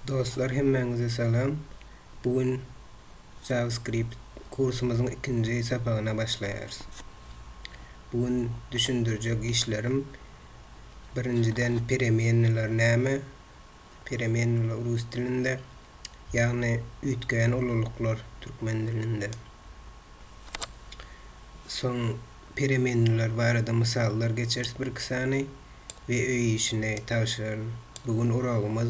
Dostlar hemmäňize salam. Bu gün JavaScript kursumyzyň ikinji sapagyna başlaýarys. Bu gün düşündirjek işlerim birinjiden peremennalar näme? Peremennalar rus dilinde, ýagny üýtgeýän ululyklar türkmen dilinde. Soň peremennalar barada mysallar geçeris bir-iki sany. we öý işini tabşyraryn. Bu gün uragymyz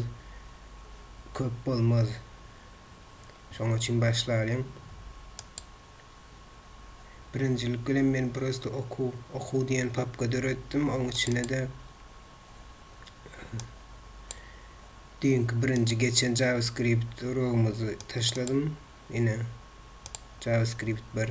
köp bolmaz. Şoň üçin başlalyň. Birinjilik bilen men prosto okuw, okuw diýen papka döretdim. Oň içine-de düýnki birinji geçen JavaScript uragymyzy taşladym. Ine, JavaScript 1.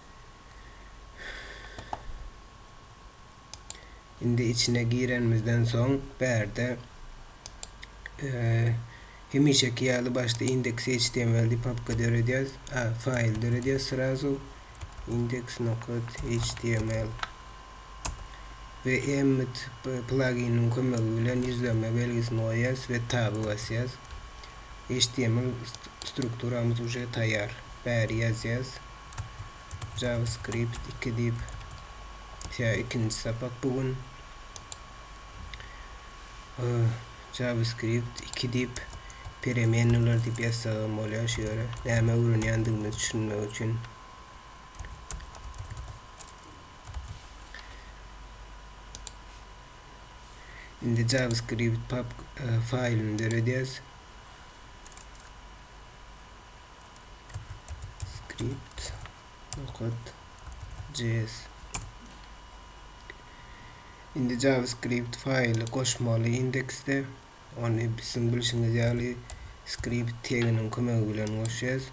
Indi içine girenimizden soň bärde hemişeki ýaly başda indeks HTML diýip papka döredýäs. A, faýl döredýäs srazu. index.html we Emmet pluginiň kömegi bilen ýüzlenme belgisini goýýas we taby basýas. HTML strukturamyz uje taýýar. Bäri ýazýas. JavaScript iki diýip tä ikinji sapak bu gün JavaScript iki diýip peremennalar diýip ýazsagam bolýar şu ýere näme öwrenýändigimizi düşünmek üçin indi JavaScript pap e, faýlyny döredýäs Skript okat JS. Indi JavaScript faýly goşmaly indeksde. Ony siziň bilşiňiz ýaly skript teginiň kömegi bilen goşýas.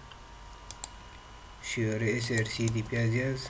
Şu ýere src diýip ýazýas.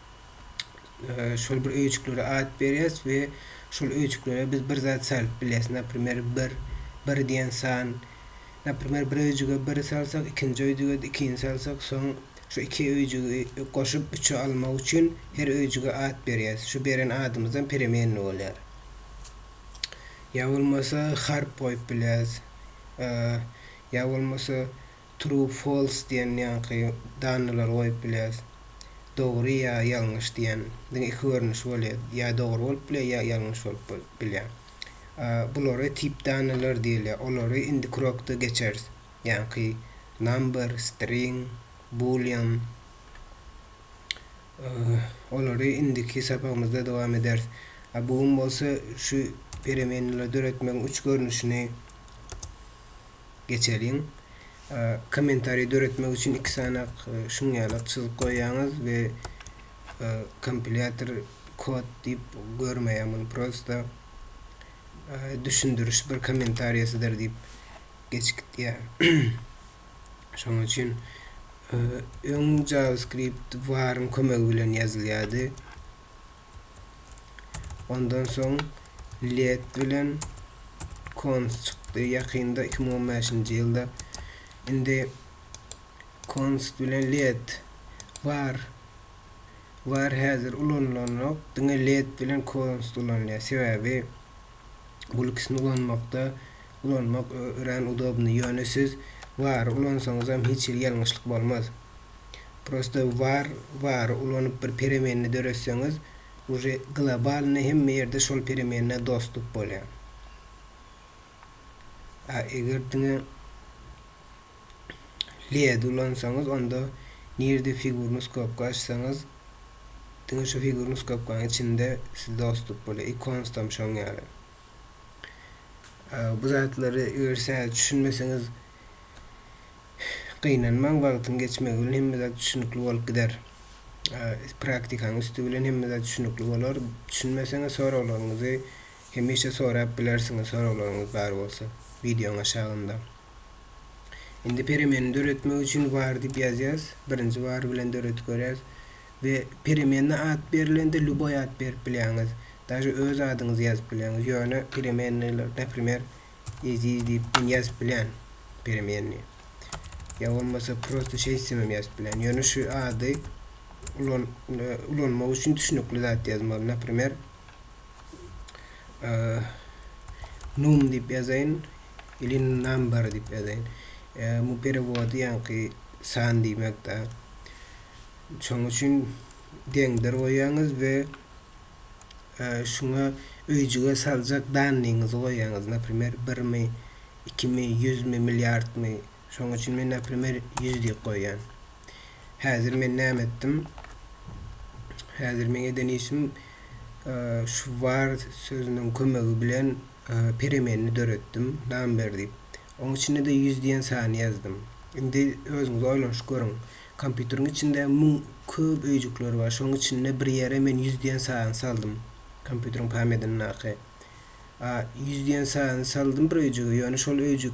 şol bir öýjüklere at berýäs we şol öýjüklere biz bir zat salyp bilýäs. Naprimer, bir, bir diýen san. Naprimer, bir öýjüge bir salsak, ikinji öýjüge-de ikini salsak, soň şu iki öýjügi goşup üçe almak üçin her öýjüge at berýäs. Şu beren adymyzam peremenna bolýar. Ýa bolmasa harp goýup bilýäs. Ýa bolmasa. True false diýen ýaňky dannylary goýup bileris. Dogry ýa ýalňyş diýen diňe iki görnüşi bolýar. Ýa dogry bolup bilýär, ýa ýalňyş bolup bol bilýär. Bulara tip dannylar diýilýär. Olary indiki urokda geçeris. Ýaňky number, string, boolean. Olary indiki sapagymyzda dowam ederis. A bu gün bolsa şu peremenleri döretmegiň üç görnüşini. geçeliň. Kommentariý döretmek üçin iki sanak şuň ýaly çyzyk goýýaňyz we kompilýator kod diýip görmeýär muny prosta düşündiriş bir kommentariýasydyr diýip geçip gidýär. Şonuň üçin öň JavaScript var-yň kömegi bilen ýazylýardy. Ondan soň led bilen kons çykdy ýakynda iki müň on bäşinji ýylda. Indi kons bilen led bar. Bar häzir ulanylanok. Diňe led bilen kons ulanylýar. Sebäbi bul ikisini ulanmakda ulanmak örän udobnyý ýöne siz wary ulansaňyzam hiç hili ýalňyşlyk bolmaz prosta var wary ulanyp bir peremenni döretseňiz uje globalnyý hemme ýerde şol peremennä dostup bolýa a eger diňe LED ulansaňyz onda nirde figurny skopka açsaňyz diňe şu figurny skopkanyň içinde siz dostluk bolar ikons tam şoň ýaly bu zatlary eger sä düşünmeseňiz gynanmaň wagtyň geçmegi bilen hemme zat düşünikli bolup gider praktikaň üsti bilen hemme zat düşünikli bolar düşünmeseňiz soraglaryňyzy hemişe sorap bilersiňiz soraglaryňyz bar bolsa wideoň aşagynda Indi peremenini döretmek üçin var diýip ýazýas. Birinji var bilen döredip görýäs. We peremenine at berilende lýuboý at berip bilýäňiz. Daže öz adyňyzy ýazyp bilýäňiz. Ýöne peremenniler, naprimer, Eziz diýip men ýazyp bilýän peremenni. Ýa bolmasa prosta şeýtsemem ýazyp bilýän. Ýöne şu ady ulanmak üçin düşnükli zat ýazmaly. Naprimer, Num diýip ýazaýyn, ili number diýip ýazaýyn. Bu perewody ýaňky san diýmekde. Şoň üçin deňdir goýýaňyz we şuňa öýjüge saljak dannyňyzy goýýaňyz. Naprimer, birmi, ikimi, ýüzmi, milliardmy, Şoň üçin men naprimer ýüz diýip goýýan. Häzir men näme etdim? Häzir meň eden işim şu var sözüniň kömegi bilen peremenini döretdim, number diýip. Oň içinde-de ýüz diýen sany ýazdym. Indi özüňiz oýlanyşyp görüň. Kompýuteriň içinde müň köp öýjükler bar. Şoň içinde bir ýere men ýüz diýen sany saldym. Kompýuteriň pamýadyndaky. A ýüz diýen sany saldym bir öýjüge, ýöne şol öýjük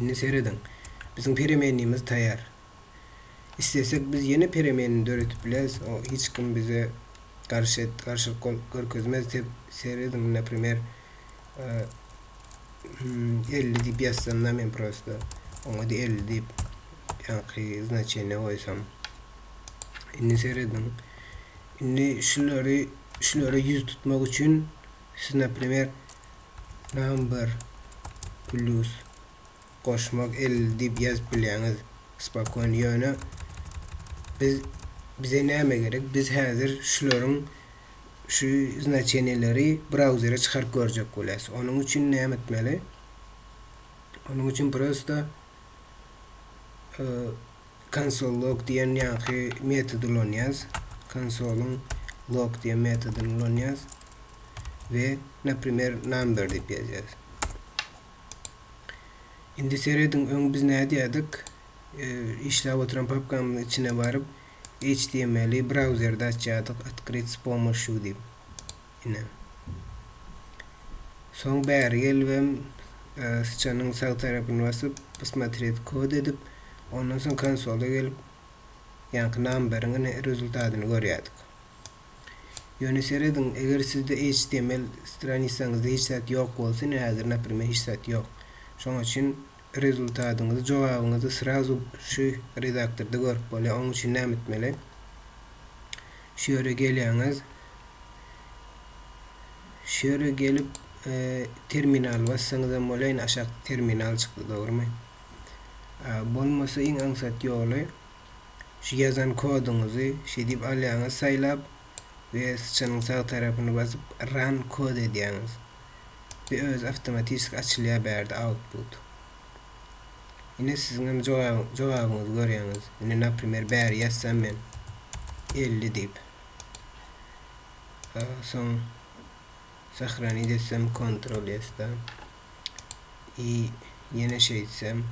Indi serediň. Biziň peremenimiz taýýar. Islesek biz ýene peremenini döredip bileris, o hiç kim bize garşy garşylyk gol görkezmez tep serediň naprimer elli diýip ýazsamda men prosta oňady elli diýip ýaňky znaçeniýa goýsam indi serediň indi şulary şulara ýüz tutmak üçin Siz naprimer number plus goşmak elli diýip ýazyp bilýäňiz spokony ýöne biz bize näme gerek biz häzir şularyň şu znaçeniýeleri brauzere çykaryp görjek bolýas onuň üçin näme etmeli onuň üçin prosta Konsol log diýen ýaňky metody ulanýas. Konsolyň log diýen metodyny ulanýas we naprimer number diýip ýazýas. Indi serediň öň biz nädýädik? Işläp oturan papkamyzyň içine baryp html-i brauzerde açýadyk otkryt s pomoşu diýip. Inem. Soň bäri gelibem syçanyň sag tarapyny basyp Posmotret kod edip ondan soň konsola gelip ýaňky numberiň rezultatyny görýärdik. Ýöne serediň eger sizde HTML stranisaňyzda hiç zat ýok bolsa ine häzir naprimer hiç zat ýok. Şoň üçin Rezultatyňyzy, jogabyňyzy srazu şu redaktorda görüp bolýar. Onuň üçin näme etmeli? Şu ýere gelýäňiz. Şu ýere gelip, e, terminal bassaňyz hem bolýar. Ine, aşakda terminal çykdy, dogrumy? E, bolmasa iň aňsat ýoly şu ýazan koduňyzy şeýdip alýaňyz saýlap, we syçanyň sag tarapyny basyp run kod edýäňiz we özi awtomatişki açylýar bärde output. Ine siziň hem jogabyňyzy görýäňiz. Ine naprimer bäri ýazsam men 50 diýip. Soň sahranit etsem kontrol ýesda. I ýene şeýtsem.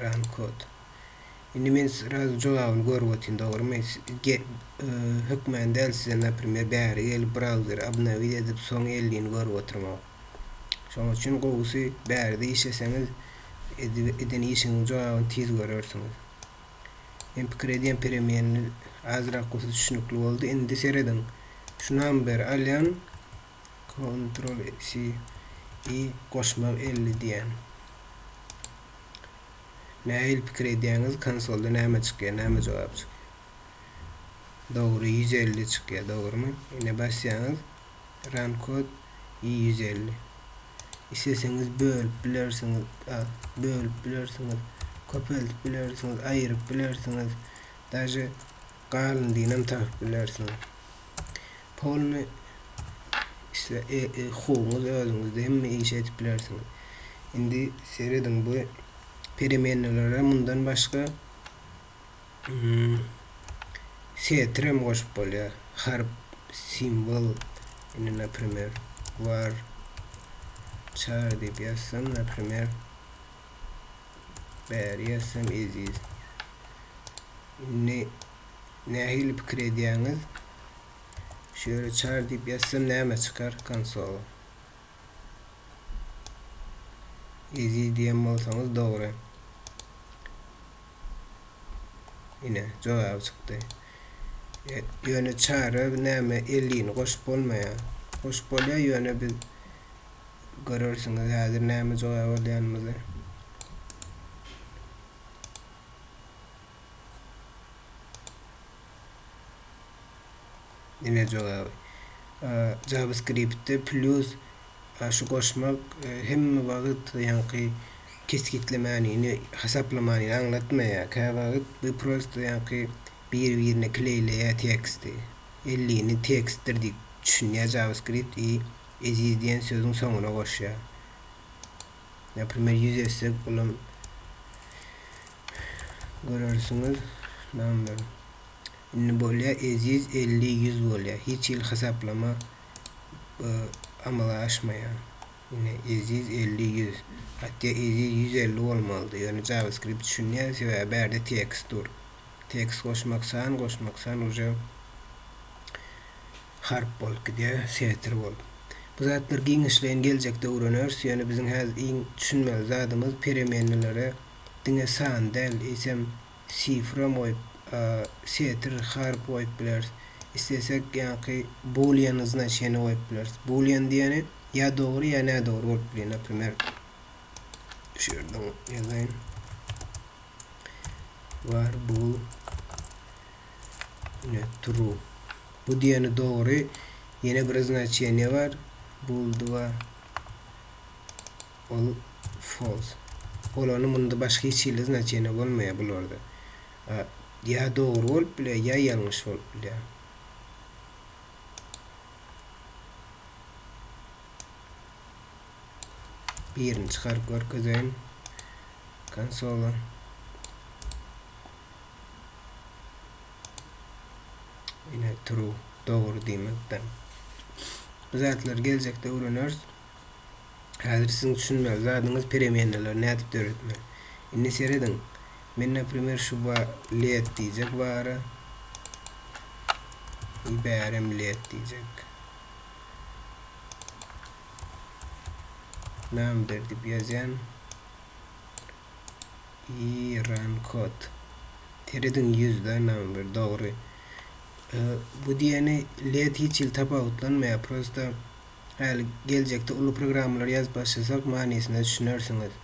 Run code. Indi men srazu jogabyny görüp otyryn, dogrumy? Hökman däl size, naprimer, bäri gelip brauzeri obnowit edip, soň elliýini görüp oturmagy. Şonuň üçin gowusy bäride işleseňiz, eden işiňiziň jogabyny tiz görersiňiz. Men pikir edýän peremenini azrak bolsa düşünikli boldy. Indi serediň. Şu number alýan Kontrol si i goşmak elli diýän. Näil pikir edýäňiz konsolda näme çykýar näme jogap çykýar. Dogry ýüz elli çykýar dogrymy. Ine basýaňyz run kod i ýüz elli. Isleseňiz bölüp bilersiňiz bölüp bilersiňiz köpeldip bilersiňiz aýyryp bilersiňiz daže galyndyny hem tapyp bilersiňiz. Polny isle hukugyňyz özüňizde hemme işi edip bilersiňiz. Indi serediň bu peremennalara mundan başga setr hem goşup bolýar. Harp, simwol indi naprimer var çar diýip ýazsam naprimer bäri ýazsam eziz. Indi Nähili pikir edýäňiz? Şöyle çar diýip ýazsam näme çykar konsola? Eziz diýen bolsaňyz dogry. Ine, jogaby çykdy. E, ýöne çara näme 50 ni goşup bolmaýar. Goşup bolýar, ýöne biz görersiňiz häzir näme jogap alýanymyzy. Diňe jogaby. JavaScriptde plus şu goşmak hemme wagt ýaňky kesgitlemäniňi hasaplamanyňy aňlatmaýar. Käwagt bu prosto ýaňky bir-birine kleýleýär teksti. Ellini tekstdir diýip düşünýär JavaScript i eziz diýen sözüň soňuna goşýar. Naprimer ýüz etsek olam görersiňiz namber. Indi bolýa eziz elli ýüz bolýa. Hiç hili hasaplama e, amala aşmaýar. Ine eziz elli ýüz. Hatda eziz ýüz elli bolmalydy. Ýöne JavaScript düşünýär sebäbi bärde tekst dur. Tekst goşmak san goşmak san uje Harp bolup gidýär, setir bol. Bu zatlar giňişleýin geljekde öwreneris, ýöne biziň häzir iň düşünmeli zadymyz peremenelere diňe san däl, eýsem sifram goýup, setir, harp goýup bileris. Islesek ýaňky boolean znaçeniýa goýup bileris. Boolean diýeni ýa dogry ýa nädogry bolup bilýär. Naprimer, şu ýerde ýazaýyn. Var bool Ine true. Bu diýeni dogry. Ýene bir znaçeniýe bar. Bulduwa ol false. Bolany munda başga hiç hili znaçeniýe bolmaýar bularda. A, ýa dogry bolup bilýär, ýa ýalňyş bolup bilýär. Birini çykaryp görkezeýin konsola. Ine true, dogry diýmekden. Bu zatlar geljekde öwreneris. Häzir siziň düşünmeli zadyňyz peremennalar nädip döretmeli. Indi serediň. Men naprimýer şu wa led diýjek wara. Ibärem led diýjek. Number diýip ýazýan. Iran kod. Terediň ýüzde number dogry. Bu diýeni led hiç ýyl tapawutlanmaýar. Prosta häli geljekde uly programmalar ýazyp başlasak manysyna düşünersiňiz.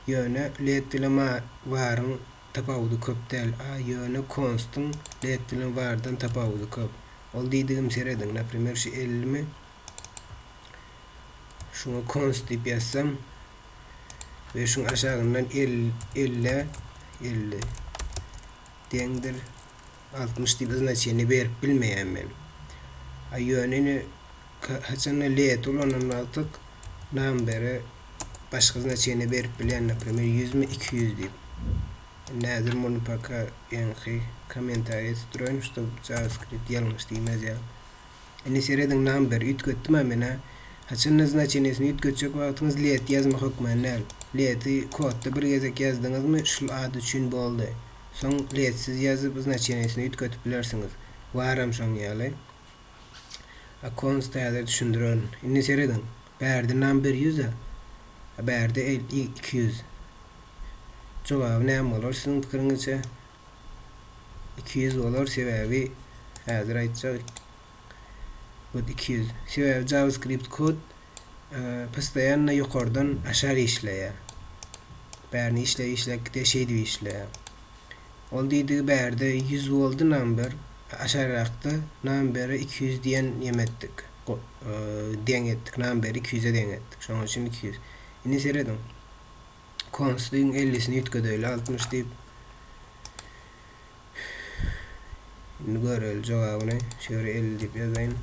Ýöne led bilen ma waryň tapawudy köp däl. A ýöne konstyň led bilen wardan tapawudy köp. Ol diýdigim serediň. Naprimer şu elli mi? Şuňa const diýip ýazsam we şuň aşagyndan 50 50 deňdir 60 diýip znaçeniýe berip bilmeýän men. A ýöne ine haçanda let ulanan wagtyk numbere başga znaçeniýe berip bilýän, naprimer 100 mi 200 diýip. Indi häzir muny paka ýaňky kommentariýa tutduraýyn, şob JavaScript ýalňyş diýmez ýaly. Indi serediň nam bir, üýtgetdim-ä men-ä. Haçanda znaçenesini üýtgetjek wagtyňyz let ýazma hökmany däl. Leti kodda bir gezek ýazdyňyzmy şul ad üçin boldy. Soň letsiz ýazyp znaçenesini üýtgetip bilersiňiz. Baram şoň ýaly. Accounts täze düşündirerin. Indi serediň. Bärde nam bir ýüz-ä. A bärde el iki ýüz. Jogaby näme bolar siziň pikiriňizçe? iki ýüz bolar sebäbi häzir aýtjak kod iki ýüz sebäbi javascript kod e, postoýanna ýokardan aşak işleýär bärini işläp işläp gidýär şeýdip işleýär ol diýdigi bärde ýüz boldy number aşakrakda numberi iki ýüz diýen ýem etdik e, deň etdik numberi iki ýüze deň etdik şonuň üçin iki ýüz indi serediň Kons diýiň ellisini üýtgedeýli altmyş diýip. Indi göreli jogabyny. Şu ýere elli diýip ýazaýyn.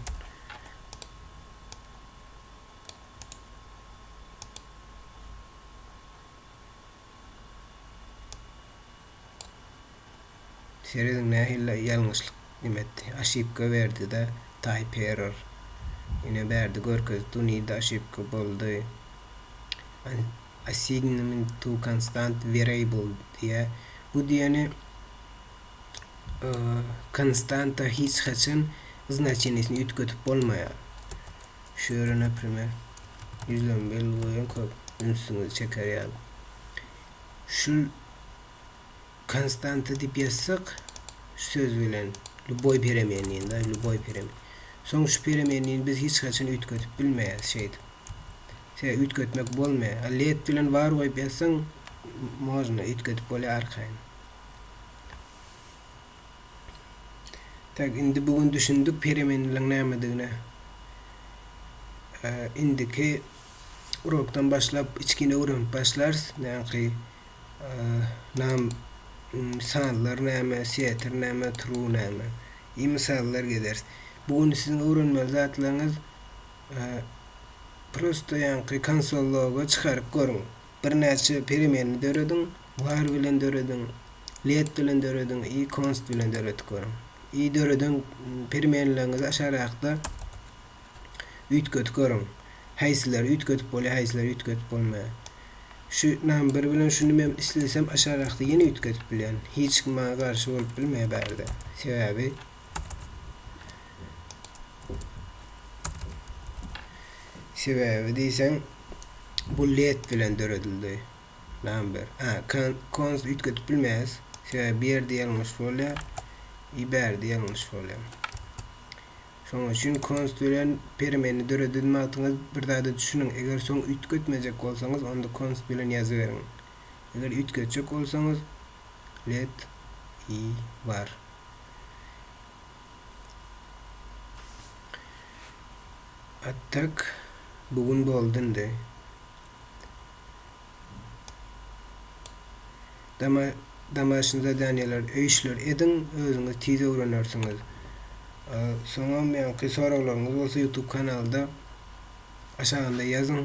Serediň nähili ýalňyşlyk dim etdi. Aşipka berdida type error. Ine bärde görkezdi dunida aşipka boldy. Assignment to constant variable diýýär. Bu diýeni konstanta hiç haçan znaçenisini üýtgedip bolmaýar. Şu ýere, naprimer, ýüzlenmeli goýan köp ünsüňizi çeker ýaly. Şul konstanta diýip ýazsak, şu söz bilen lýuboý peremennyny, da, lýuboý peremen. Soň şu peremennyny biz hiç haçan üýtgedip bilmeýäris şeýdip. Sebäbi üýtgetmek bolmaýar. A let bilen bar goýup ýazsaň, można, üýtgedip bolýar arkaýyn. Tak, indi bu gün düşündik peremenliligiň nämedigine. Indiki Urokdan başlap içgine öwrenip başlarys. Näki nam sanlar näme, setir näme, turuw näme. I mysallar gezeris. Bu gün siziň öwrenmeli zatlaryňyz prosta ýaňky konsol loga çykaryp görüň. Birnäçe peremenini dörediň, var bilen dörediň, let bilen dörediň i konst bilen döredip görüň. I döreden peremenleriňizi aşarakda. Üýtgedip görüň. Haýsylar üýtgedip bolýar, haýsylar üýtgedip bolmaýar. Şu nam bir bilen şuny men islesem aşarakda ýene üýtgedip bilýän. Hiç kim maňa garşy bolup bilmeýär bärde. Sebäbi Sebäbi diýseň bu led bilen döredildi. Nam bir. A, kan, kons üýtgedip bilmeýäs. Sebäbi bu ýerde ýalňyş bolýar. I bärde ýalňyş bolýar. Şonuň üçin konstbilen permeni dörededmi atyňyz, bir zada düşüniň, eger soň üýtgetmejek bolsaňyz, onda konst bilen ýazyberiň. Eger üýtgetjek bolsaňyz, let i bar. Attak bu gün boldy indi. Domaşny zadaniýalar öýşler ediň özüňiz tiz öwrenersiňiz. Soňam ýaňky soraglaryňyz bolsa ýutub kanalda aşagynda ýazyň.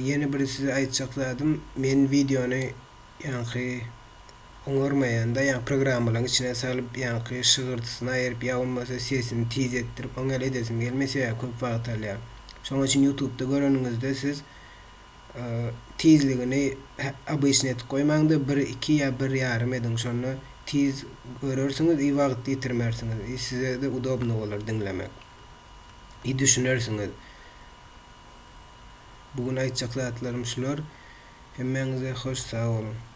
Ýene bir size aýtjak zadym men wideony ýaňky oňarmaýanda ýaňky programmalaryň içine salyp ýaňky şygyrdysyny aýyryp ýa bolmasa sesini tiz etdirip oň ýaly edesim gelmeýär sebäbi köp wagt alýar. Şoň üçin ýutubda göreniňizde siz tizligini obyçny edip goýmaňda bir iki ýa bir ýarym ediň şonda tiz görersiňiz i wagt ýitirmersiňiz i sizede udobno bolar diňlemek i düşünersiňiz bu gün aýtjak zatlarym şular hemmäňize hoş sag boluň.